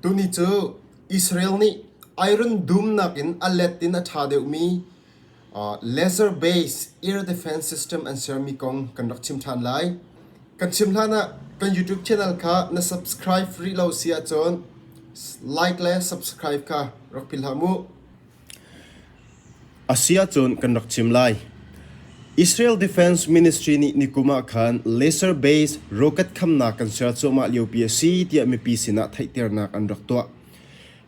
Tuni cu Israel nih iron dumnak in a let in a ṭha deuhmi laser based air defense system an sermi kong kan rak chim ṭhan lai. Kan chim hlanah kan YouTube channel kha na subscribe rih lo si ahcun like le subscribe kha rak philh hlah mu. A si ahcun kan rak chim lai. Israel Defense Ministry nih nikum ah khan laser based rocket khamnak kan ser cuahmah liopi a si tiah mipi sinah theihternak an rak tuah.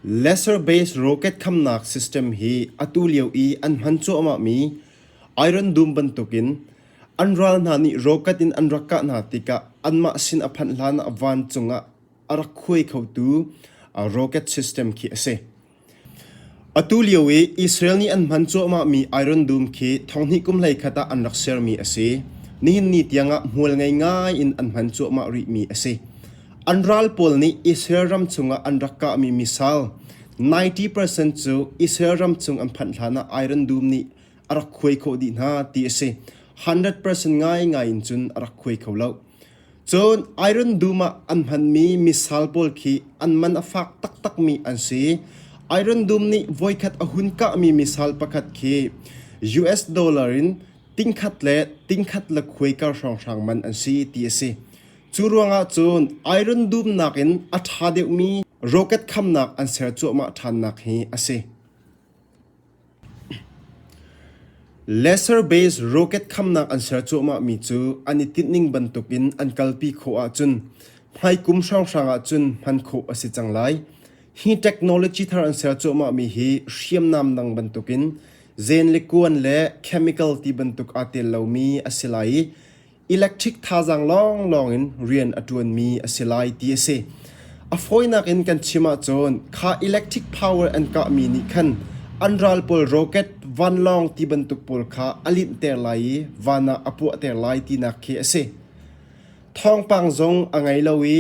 Laser based rocket khamnak system hi atu lio i an hman cuahmahmi iron dum bantukin an ral hna nih rocket in an rak kah hna tikah anmah sin a phanh hlanah vancung ah a rak khuai khotu rocket system khi a si. Atulio i Israel nih an hman cuahmahmi iron dum khi thonghnih kum hleikhat ah an rak sermi a si. Nihin ni tiangah hmual ngei ngai in an hman cuahmah rihmi a si. An ral pawl nih Israel ram chungah an rak kahmi misal 90% cu Israel ram chung an phanh hlanah iron dum nih a rak khuai khawh dih hna ti a si. 100% ngaingai in cun a rak khuai kho loh. Cun iron dum ah an hmanmi misal pawl khi an man a fak taktakmi an si. Iron dum nih voikhat a hun kahmi misal pakhat khi US dollar in tingkhat le tingkhat le khuai kar hrawnghrang man an si ti a si. Cu ruangah cun iron dum nakin a ṭha deuhmi roket khamnak an ser cuahmah ṭhannak hi a si. Lesser base rocket khamnak an ser cuahmahmi cu an i tinh ning bantukin an kalpi khawh ahcun hmaikum hranghrang ahcun hman khawh a si cang lai. Hi technology thar an ser cuahmahmi hi hriamnam dang bantukin zen le kuan le chemical ti bantuk aa tel lomi a si lai i electric thazaang lawnglawng in rian a ṭuanmi a si lai ti a si. A fawinak in kan chim ahcun kha electric power an kahmi nih khan an ral pawl rocket vanlawng ti bantuk pawl kha a linhter lai i van ah a puahter lai tinak khi a si. Thawngpang zong a ngei lo i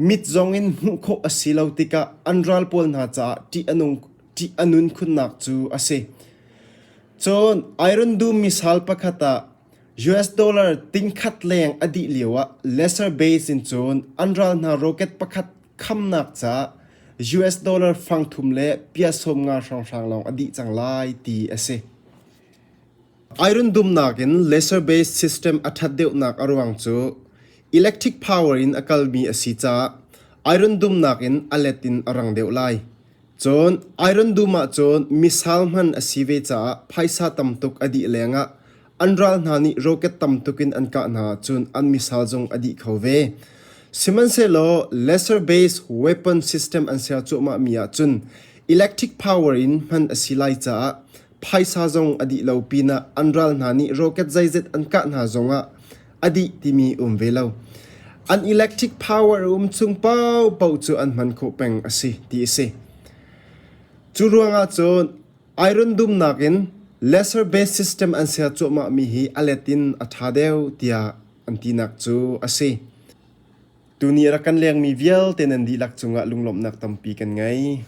mit zong in hmuh khawh a si lo tikah an ral pawl hna caah ṭih a nung ṭih a nun khunnak cu a si. Cun iron dum misal pakhat ah US dollar tingkhat leng a dih lioah lesser base in cun an ral hna rocket pakhat khamnak ca US dollar fang thum le pia sawm nga hrawnghrang lawng a dih cang lai ti a si. Iron dumnak in lesser base system a that deuhnak a ruang cu electric power in a kalmi a si caah iron dumnak in a let in a rang deuh lai. Cun iron dum ah cun missile hman a si ve caah phaisa tam tuk a dih lengah An ral hna nih roket tam tuk in an kah hna cun an missile zung a dih kho ve. Sihmanhsehlaw lesser base weapon system an ser cuahmahmi ahcun electric power in hman a si lai caah phaisa zong a dih lo pinah an ral hna nih roket zeizet an kah hna zongah a dih timi um ve lo. An electric power a um chung paohpaoh cu an hman khawh peng a si ti a si. Cu ruangah cun Iron dumnak in lesser base system an ser cuahmahmi hi a let in a ṭha deuh tiah an tinak cu a si. Tuni a rak kan lengmi vialte nan dihlak cungah lunglawmhnak tampi kan ngei.